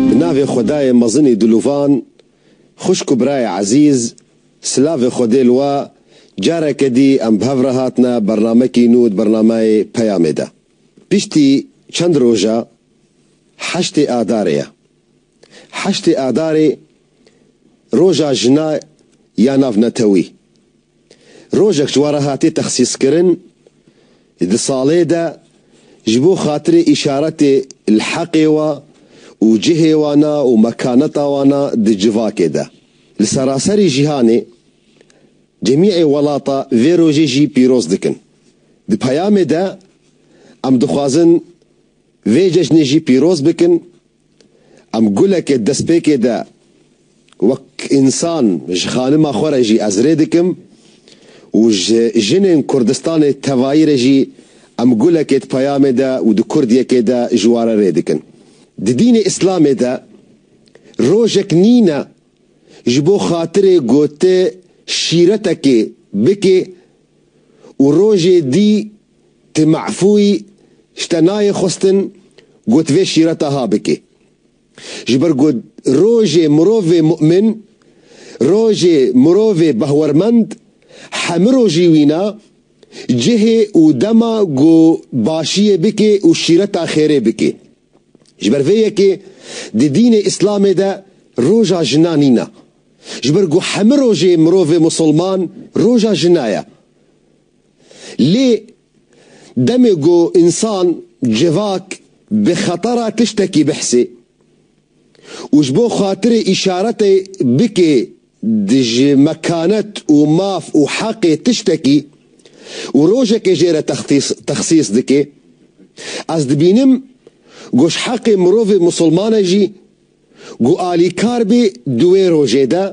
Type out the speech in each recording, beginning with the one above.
Bi navê Xwedayê mezinî diluvan, xwişk û birayê ezîz, silavê Xwedê li we, careke dî em bi hev re hatine bernamekî nû di bernameyê Peyamê de. Piştî çend roj e heştê Adarê ye. Heştê Adarê roja jina ya nav netewî. Rojek ji wan re hatiye texsîskirin di salê de ji bo xatirê îşaretê li heqê wan û cihê wan a û mekaneta wan a di civakê de. Li seraserî jîhanê cemîê welata vê rojê jî pîroz dikin. Di peyamê de em dixwazin vê cejnê jî pîroz bikin. Em gulekê destpêkê de wek însan ji xanima xwe re jî ez rê dikim û ji jinên Kurdistanê tevayî re jî em gulekê di peyamê de û di kurdiyekê de ji wan re rê dikin. Di dînê îslamê de rojek nîne ji bo xatirê gotê şîretekê bikê û rojê dî Ti mafûî ji te nayê xwestin ku tu vê şîra taha bikî. Ji ber ku rojê mirovê mu'min, rojê mirovê behwermend hemû rojî wîna cihê û dema ku başiyê bikê û şîreta xêrê bikê. Ji ber vê yekê di dînê Îslamê de roja jina nîna. Ji ber ku hemû rojê mirovê musulman roja jina ye. Lê demê ku însan, civak, bi xetera tiştekî bihsê û ji bo xatirê îşaretê bike di ji mekanet û maf û heqê tiştekî û rojekê jê re texsîs dike, ez dibînim ku ji heqê mirovê misilmane jî Ku alîkar bê di wê rojê de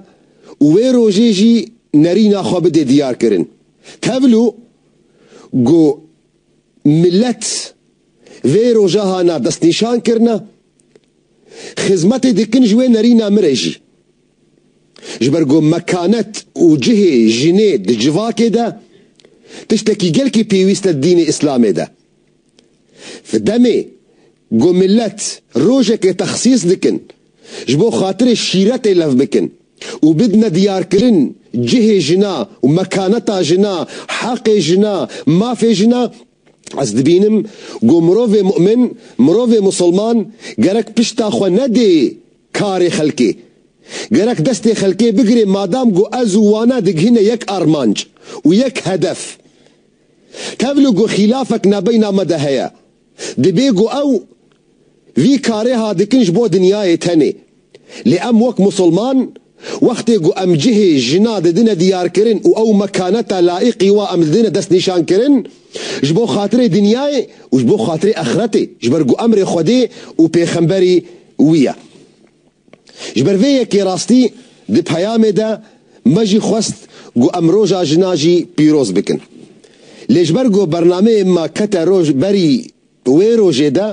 û wê rojê jî nerîna xwe bidê diyarkirin. Tevlû ku milet vê roja hana destnîşan kirine, xizmetê dikin ji wê nerîna min re jî. Ji ber ku mekanet û cihê jinê di civakê de tiştekî gelkî pêwîst e di dînê îslamê de. Di demê ku milet rojekê texsîs dikin ji bo xatirê şîretê lev bikin û bidine diyarkirin cihê jina û mekaneta jina, heqê jina, mafê jina, ez dibînim ku mirovê mu'min, mirovê musilman gerek pişta xwe nedê karê xelkê. Gerek destê xelkê bigirê madam ku ez û wan e digihîne yek armanc û yek hedef. Tevlû ku xîlafek nebeyna me de heye, dibê ku ew vî karê ha dikin ji bo dinyayê tenê. Lê em wek Musulman, wextê ku em cihê jina didine diyarkirin û ew mekaneta laîqî wa em didine destnîşankirin, ji bo xatirê dinyayê û ji bo xatirê exretê, ji ber ku emrê Xwedê û pêxemberî wî ye. Ji ber vê yekê rastî di peyamê de me jî xwest ku em Roja Jina jî pîroz bikin. Lê ji ber ku bernameyê me kete roj berî wê rojê de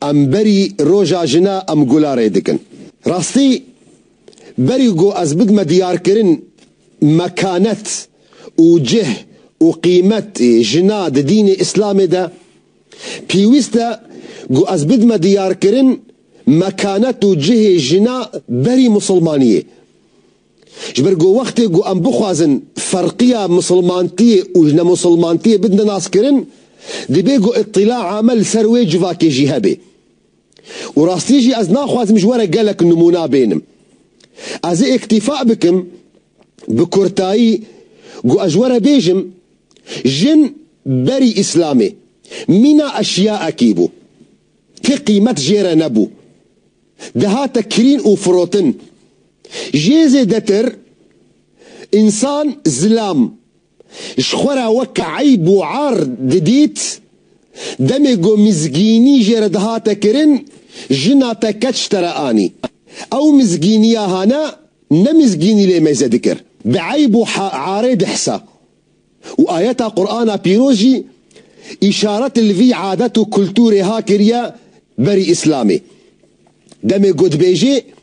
em berî Roja Jina em gula rê dikin. Rastî berî ku ez bidime diyarkirin mekanet û cih û qîmetê jina di dînê Îslamê de, Pêwîste ku ez bidime diyarkirin mekanet û cihê jina berî misilmaniyê. Ji ber ku wextê ku em bixwazin ferqiya misilmantiyê û ji nemisilmantiyê bidine naskirin, dibê ku îtîla ame li ser wê civakê jî hebe. Û rastî jî ez naxwazim ji we re gelek nimûna bênim. Ez ê îktîfa bikim Bi kurtayî ku ez were bêjim, jin berî Îslamê mîna eşyaekî bû ke qîmet jê re nebû, dihate kirîn û firotin. Jê zêdetir însan zilam ji xwe re weke eyb û ar didît. Demê ku mizgînî jê re dihate kirin, jina te keç te re anî. Ew mizgîniya hane ne mizgînî lê mêze dikir. Bi eyb û arê dihsa. Û ayeta Qur'ana pîroz jî îşaret li vî adet û kulturê ha kiriye berî Îslamê. Demê ku dibêjê.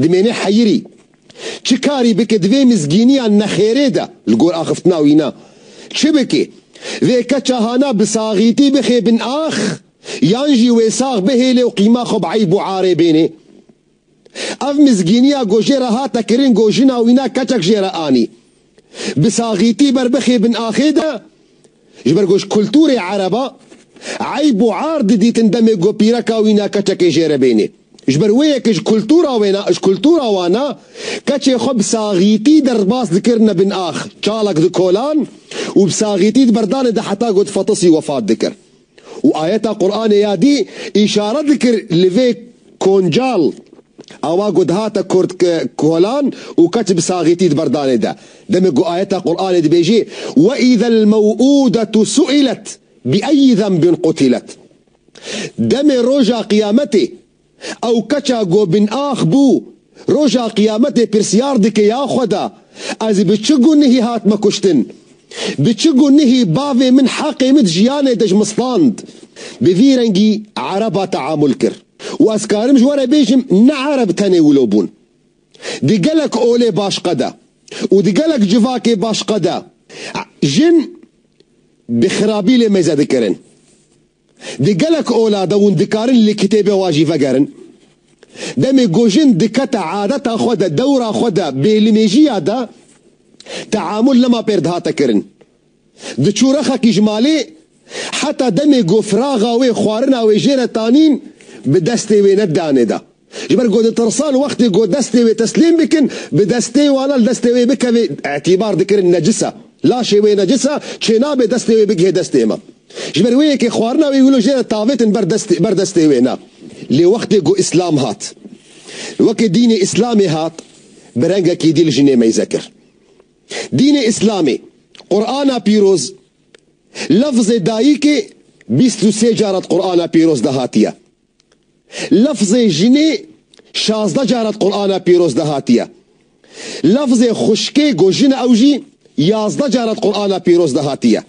Dimêne heyirî. Çi karî bike di vê mizgîniya nexêrê de li gor axiftina wî ne? Çi bike? Vê keça hana bi saxîtî bixe bin ax yan jî wê sax bihêle û qîma xwe bi eyb û arê bêne? Ev mizgîniya ku jê re hate kirin ku jina wî ne keçek jê re anî. Bi saxîtî ber bixê bin axê de, ji ber ku ji kultûrê ereba eyb û ar didîtin demê ku pîreka wî ne keçekê jê re bênê. Ji ber wê ye ku ji kultûra wê ne, ji kultûra wan ne keçê xwe bi saxîtî derbas dikirine bin ax, çalak dikolan û bi saxîtî di berdanê de heta ku difatisî wefat dikir. Û ayeta Quranê ya dî îşare dikir li vê koncal awa ku dihate kurt ke kolan û keç bi saxîtî di berdanê de. Demê ku ayeta Quranê dibêjî, Ve îzel mew'ûdetu su'ilet bi eyyi zenbin qutilet. Demê roja qiyametê Ew keça ku bînax bû, Roja Qiyametê pirsyar dike ya Xweda, Ez bi çi gunehî hatime kuştin? Bi çi gunehî bavê min heqê min di jiyanê de ji min stand? Bi vî rengî ereba teamul kir. Û ez karim ji we re bêjim ne ereb tenê wilo bûn. Di gelek olê başqe de û di gelek civakê başqe de jin bi xirabî lê mêze dikirin. Di gelek ola de hûn dikarin li kitêbê wan jî vegerin. Demê ku jin dikete adeta xwe de dewra xwe de bêlimêjiya de teamul lema pêr dihate kirin. Diçû rexekî ji malê heta demê ku firaxa wê xwarina wê jê re tanîn bi destê wê ne danê de. Ji ber ku ditirsan wextê ku destê wê teslîm bikin, bi destê wan e li destê wê bikeve, îtîbar dikirin necis e. Laşê wê necis e, çênabe destê wê bigihê destê me. Ji ber wê yekê xwarina wê wilo jê re tavêtin ber destê wê ne. Lê wextê ku Îslam hat, wekî dînê Îslamê hat, bi rengekî dî li jinê meyze kir. Dînê Îslamê, Qur'ana Pîroz, lefzê dayikê bîst û sê cara di Qur'ana Pîroz de hatiye. Lafzê jinê şazdeh cara di Qur'ana pîroz de hatiye. Lafzê xuşkê ku jin e ew jî yazdeh cara di Qur'ana pîroz de hatiye.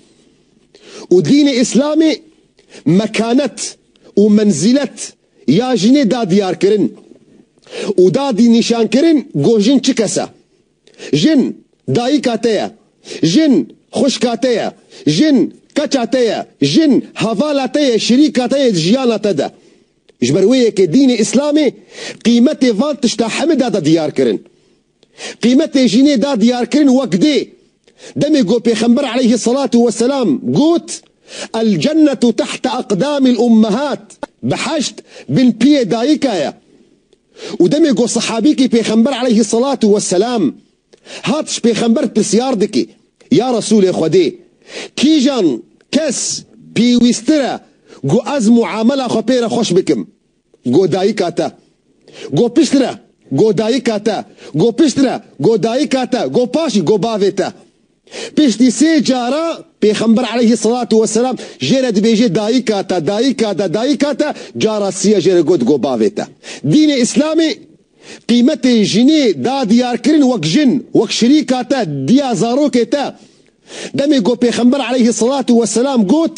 Û dînê Îslamê mekanet û menzîlet ya jinê da diyarkirin û da dî nîşankirin ku jin çi kes e. Jin, dayika te ye. Jin, xwişka te ye. Jin, keça te ye. Jin, hevala te ye, şirîka te yê di jiyana te de. Ji ber wê ye ke dînê Îslamê qîmetê van tişta heme da da diyarkirin. Qîmetê jinê da diyarkirin wek dê. Demê ku Pêxember aleyhi selatü ve selam got, El cennetu tehte aqdamil ummehat, Biheşt bin piyê dayika ye. Û demê ku sehabîkî pêxember eleyhî selatû we selam hat ji pêxember pirsyar dike, Ya Resûlê Xwedê, kîjan, kes, pêwîstir e ku ez muamela xwe pê re xweş bikim? Got dayika te. Got pişt re. Got dayika te. Got pişt re. Got dayika te. Got paşî. Got bavê te. Piştî sê caran Pêxember eleyhî selatû weselam jê re dibêje dayîka te, dayîka te, dayîka te, cara sî ya jê re got go bavê te. Dînê Îslamê qîmetê jinê da diyarkirin wek jin, wek şirîka te, diya zarokê te. Demê go Pêxember eleyhî selatû weselam got.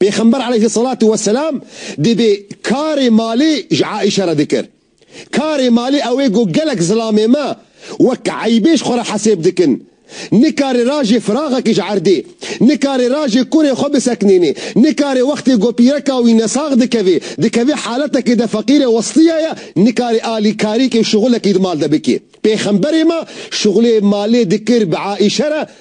Pêxember aleyhîsselatu wesselam dibê karê malê ji Aîşe re dikir. Karê malê ew ê ku gelek zilamê me wek eybê ji xwe re hesêb dikin. Nikarê rajê firaxekî ji erdê, nikarê rajê kurê xwe biseknênê, nikarê wextê ku pîreka wî nesax dikevê, dikevê haletekê de feqîr e westiye ye, nikarê alî karîkê û şixulekî di mal de bikê. Pêxemberê me şixulê malê dikir bi Aîşe re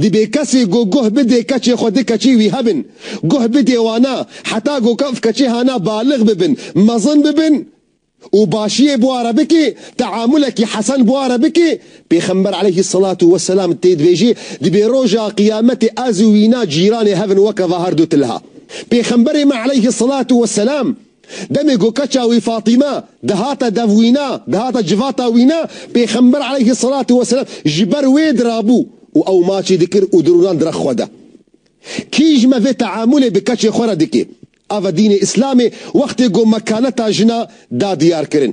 Dibe kesê ku guh bide keçê xwe di keçî wî hebin. Guh bide wana heta ku ev keçê hana balix bibin, mezin bibin û başiyê bi wa re bike, teamulekî hesen bi wa re bike. Pêxember eleyhî selatû we selam tê dibêje, Dibe roja qiyametê ez û wî na cîranê hebin weke va herdu tilha. Pêxemberê me eleyhî selatû we selam. Demê ku keça wî Fatîme dihate dev wî ne, dihate civata wî ne, Pêxember aleyhi selatü weselam ji ber wê dirabû û ew maçî dikir û dirûnan direx xwe de. Kîj me vê teamulê bi keçê xwe re dike? Ava dînê Îslamê wextê ku mekaneta jina da diyarkirin.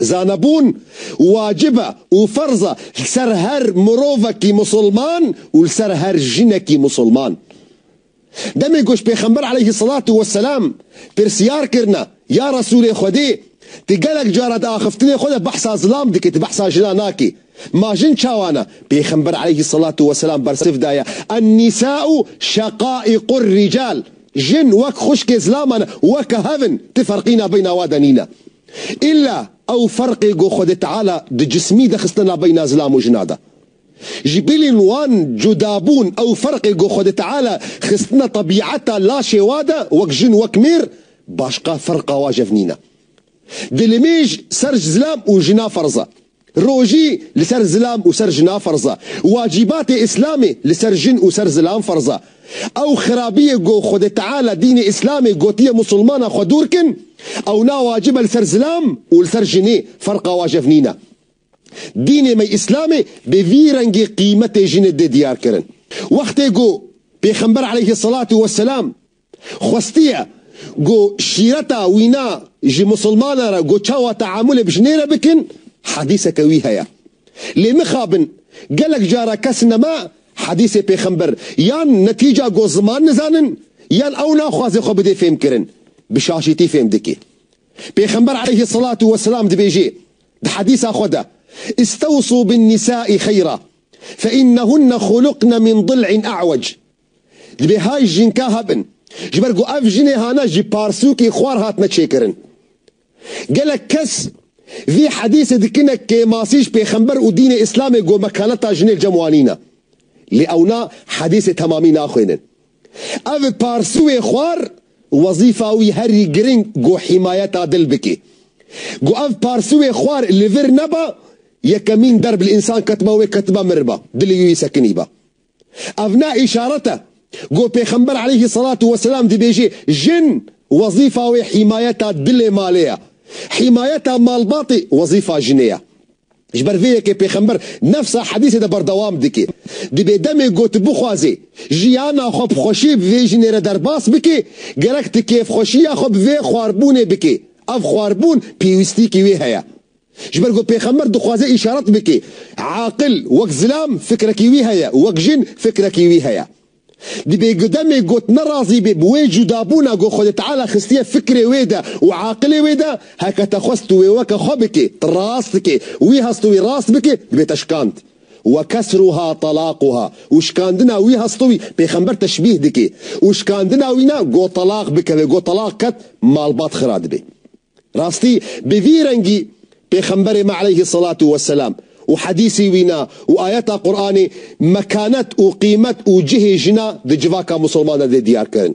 Zanebûn wacib e û ferz e li ser her mirovekî misilman û li ser her jinekî misilman. Demê ku ji Pêxember eleyhî selatû weselam pirsiyar kirine, Ya Resûlê Xwedê, tu gelek cara di axiftinê xwe de behsa zilam dikî, tu behsa jinan nakî. Ma jin çawa ne? Pêxember eleyhî selatû weselam bersiv daye, Ennisâ'u şeqâ'iqur-rical, Jin wek xwişkê zilaman e, weke hev in, tu ferqîna beyna wan de nîne. Îlla ew ferqê ku Xwedê Teala di cismî de xistine navbeyna zilam û jina de. Ji bilên wan cudabûn ew ferqê ku Xwedê Teala xistine tebîeta laşê wa de wek jin wek mêr başqa ferqa wajev nîne. Dilimêj ser ji zilam û jina ferz e. Rojî li ser zilam û ser jina ferz e. Wacîbatê Îslamê li ser jin û ser zilam ferz e. Ew xerabiyê ku Xwedê Teala dînê Îslamê gotiye Musulmanan xwe dûr kin, ew na wacibe li ser zilam û li ser jinê ferqa wajev nîne. Dînê me Îslamê bi vî rengî qîmetê jinê dê diyar kirin. Wextê ku Pêxember aleyhî selatû weselam, xwestiye ku şîreta wî na ji misilmanan re ku çawa teamûlê bi jinê re bikin hedîseke wî heye. Lê mixabin gelek cara kes nema hedîsê pêxember yan netîca ku ziman nizanin yan ew naxwaze xwe bidê fêmkirin bi şaşîtî fêm dike. Pêxember aleyhi selatû weselam dibêje di hedîsa xwe de, Îstewsû bin nisâ'î xeyra, fe înnehunne xûliqne min dil'in e'wec. Divê hay jînka hebin. Ji ber ku ev jinê hane ji parsûkê xwar hatine çêkirin. Gelek kes vî hedîsê dikine kêmasî ji pêxember û dînê îslamê ku mekaneta jinê li cem wan nîn e. Lê ewna hedîsê temamî naxwînin. Ev parsûê xwar wezîfa wî herî giring ku hîmayeta dil bike. Ku ev parsûê xwar li vir neba, yekemîn derb li însan ketiba wê ketiba miriba, dilê wî wî sekinîba. Ev ne îşaret e ku Pêxember aleyhî selatû weselam dibêjê jin wezîfa wê hîmayeta dilê malê ye. Hîmayeta malbatê wezîfa jinê ye. Ji ber vê yekê Pêxember nefsa hedîsê de berdewam dike. Dibê demê ku tu bixwazî jiyana xwe bi xweşî bi vê jinê re derbas bikî, gerek tu kêfxweşiya xwe bi vê xwarbûnê bikî. Ev xwarbûn pêwîstîyekî wê heye. Ji ber ku pêxember dixwaze îşaret bike, aqil wek zilam fikrekî wî heye û wek jin fikrekî wî heye. Dibê ku demê got nerazî be bi wê cudabûna ku Xwedê Teala xistiye fikrê wê de û aqilê wê de, heke te xwest tu wê weke xwe bike, tu rast dike û wî hest tu wî rast bike, dibête şikand. Wa kesruha talaquha û şikandina wî hest tu wî pêxember teşbîh dike û şikandina wî ne ku telaq bikeve, ku telaq ket malbat xira dibe. Rastî bi vî rengî Pêxemberê me eleyhî selatu weselam û hedîsî wî na û ayeta Quranê mekanet û qîmet û cihê jina di civaka misilman de dê diyar kirin.